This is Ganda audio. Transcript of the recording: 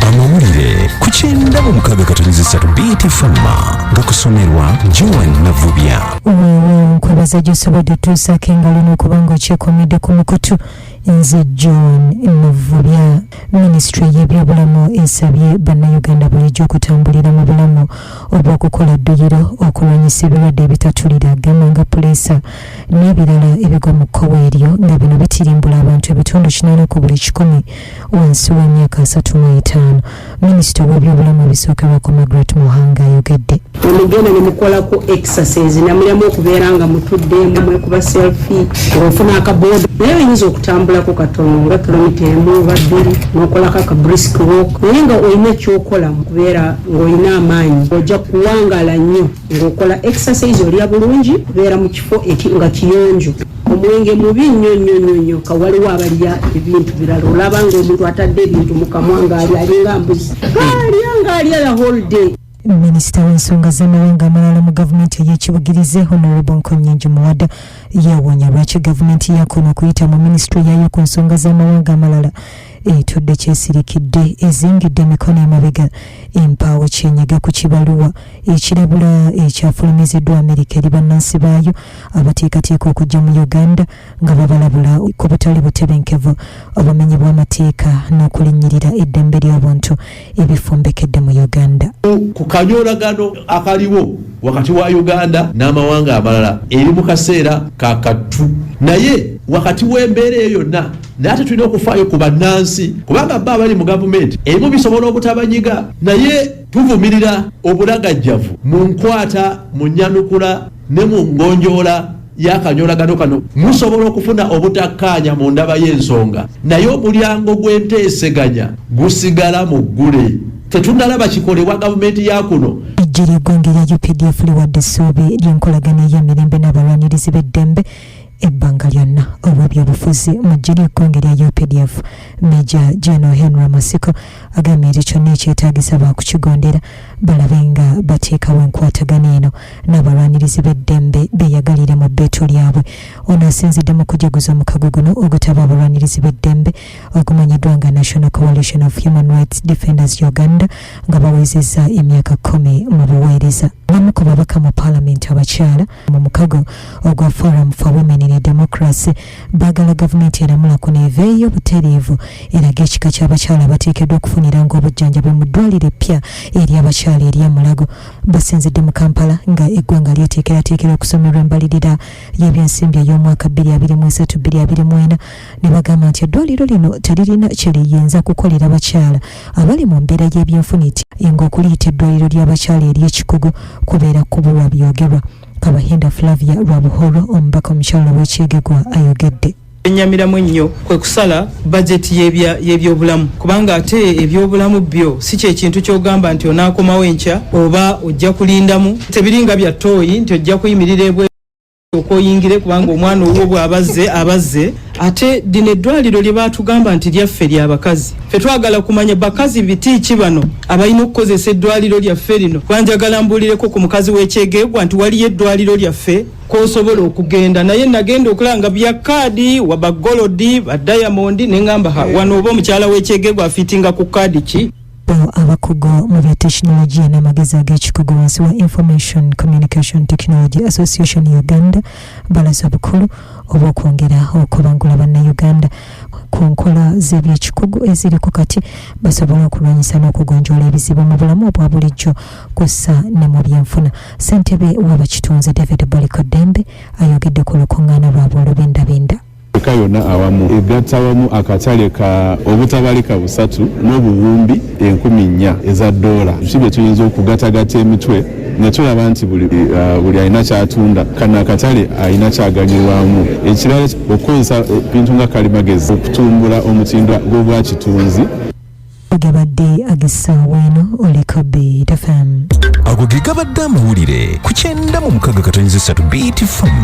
amawulire ku kyenda mu mukaaga katonyeza essatu btfama nga kusomerwa joan navubya weewaawo nkwebaza gyosobodde otuusaako engalo n'okubanga okyekomedde ku mukutu nze john muvubya minisitule y'ebyobulamu esabye bannayuganda bulijjo okutambulira mu bulamu obw'okukola dduyiro okulwanyisa ebirwadde ebitatulira gamba nga puleesa n'ebirala ebigwa mu kkowe eryo nga bino bitirimbula abantu ebitundu kinaana ku buli kikumi wansi w'emyaka asatu mu etaano minisita ow'ebyobulamu ebisookerwako margaret muhanga ayogedde nemugenda nemukolako exercise namulyamu okubeera nga mutudde mwekuba selfi ofuna akaboda naye oyinza okutambulako katono nga kilomita emu oba bbiri nokolako aka brisk walk naye nga olina ekyokola mukubeera ngaolina amaanyi ojja kuwangala nnyo ngaokola exercise olya bulungi kubeera mu kifo nga kiyonjo Omwenge mubi nnyo nnyo nnyo nnyo ka waliwo abalya ebintu birala olaba ng'omuntu atadde ebintu mu kamwa ng'alya alinga mbuzi alya ng'alya la whole day minisita w'ensonga z'amawanga amalala mu gavumenti ey'ekibugirize honorable nkonyingi muwada yawunya lwaki gavumenti yakoona okuyita mu minisitule yaayo ku nsonga z'amawanga amalala etudde kyesirikidde ezingidde emikono emabega empaawo kyenyega ku kibaluwa ekirabula ekyafulumiziddwa amerika eri bannansi baayo abateekateeka okujja mu uganda nga babalabula ku butali butebenkevu obumenyi bw'amateeka n'okulinnyirira eddembe ly'obuntu ebifumbekedde mu Uganda. Ku kanyoolagano akaliwo wakati wa Uganda n'amawanga amalala eri mu kaseera ka kattu naye wakati w'embeera eyo yonna naye ate tulina okufaayo ku bannansi kubanga bba abali mu gavumenti ebimu bisobola obutabanyiga naye tuvumirira obulagajjavu mu nkwata mu nnyanukula Ne mu ngonjoola y'akanyoolagano kano musobola okufuna obutakkaanya mu ndaba y'ensonga, naye omulyango gw'enteeseganya gusigala muggule. Tetunnalaba kikolebwa gavumenti ya kuno. Eggye ly'eggwanga erya updf liwadde essuubi ly'enkolagana ey'emirembe n'abalwanirizi b'eddembe. ebbanga lyonna olw'ebyobufuzi mu ggye ly'ekkonge lya updf meja geno henry masiko agambye nti kyonna ekyetaagisa baakukigondera balabe nga bateekawo enkwatagana eno n'abalwanirizi b'eddembe beyagalire mu bbeetu lyabwe ono asinzidde mu kujaguza omukago guno ogutaba abalwanirizi b'eddembe ogumanyiddwa nga national coalition of human rights defenders uganda nga bawezezza emyaka kumi mu buweereza abamu ku babaka mu paalamenti abakyala mu mukago ogwa forum for women in democracy bagala gavumenti eramula ku neeva ey'obutereevu eraga ekika ky'abakyala abateekeddwa okufuniranga obujjanjabi mu ddwaliro eppya eri abakyala erya mulago basinzidde mu kampala nga eggwanga lyeteekerateekera okusomerwa embalirira y'ebyensimbi ey'omwaka 223224 ne bagamba nti eddwaliro lino teririna kye liyinza kukolera bakyala abali mu mbeera y'ebyenfuna eti enga okuliyita eddwaliro ly'abakyala ery'ekikugu kubeera kubuwa byogerwa kabahinda flavia lwa buhoro omubaka omukyala w'ekyegegwa ayogedde enyamiramu ennyo kwe kusala bajeti y'ebyobulamu kubanga ate ebyobulamu byo si kyekintu kyogamba nti onaakomawo enkya oba ojja kulindamu tebiringa bya tooyi nti ojja kuyimirira ebwe okusooka oyingire kubanga omwana owuwo bw'abazze abazze ate lino eddwaliro lye baatugamba nti lyaffe lya bakazi fe twagala kumanya bakazi biti ki bano abalina okukozesa eddwaliro lyaffe lino kuba njagala mbuulireko ku mukazi w'ekyegeegwa nti waliyo eddwaliro lyaffe kwosobola okugenda naye nagenda okulaba nga bya kaadi wabagolodi badayamondi ne ŋamba wano oba omukyala w'ekyegeegwa afiitinga ku kaadi ki Bano abakugu mu bya tekinologiya n'amagezi ag'ekikugu wansi wa Information Communication Technology Association Uganda balaze obukulu obw'okwongera okubangula bannayuganda ku nkola z'ebyekikugu eziriko kati basobole okulwanyisa n'okugonjoola ebizibu mu bulamu obwa bulijjo kw'ossa ne mu byenfuna ssentebe w'abakitunzi david boliko dembe ayogedde ku lukuŋŋaana lwabwe olubindabinda Afrika yonna awamu egatta wamu akatale ka obutabalika busatu n'obuwumbi enkumi nnya eza ddoola. Ki bye tuyinza okugatagata emitwe ne tulaba nti buli, uh, buli alina kyatunda kano akatale alina kyaganyirwamu. Ekirala okukozesa ebintu nga kalimagezi okutumbula omutindo gw'obwakitunzi. Gabadde agisaawa eno oliko Beat FM. Ago ge gabadde amawulire ku kyenda mu mukaga katonyiza essatu Beat FM.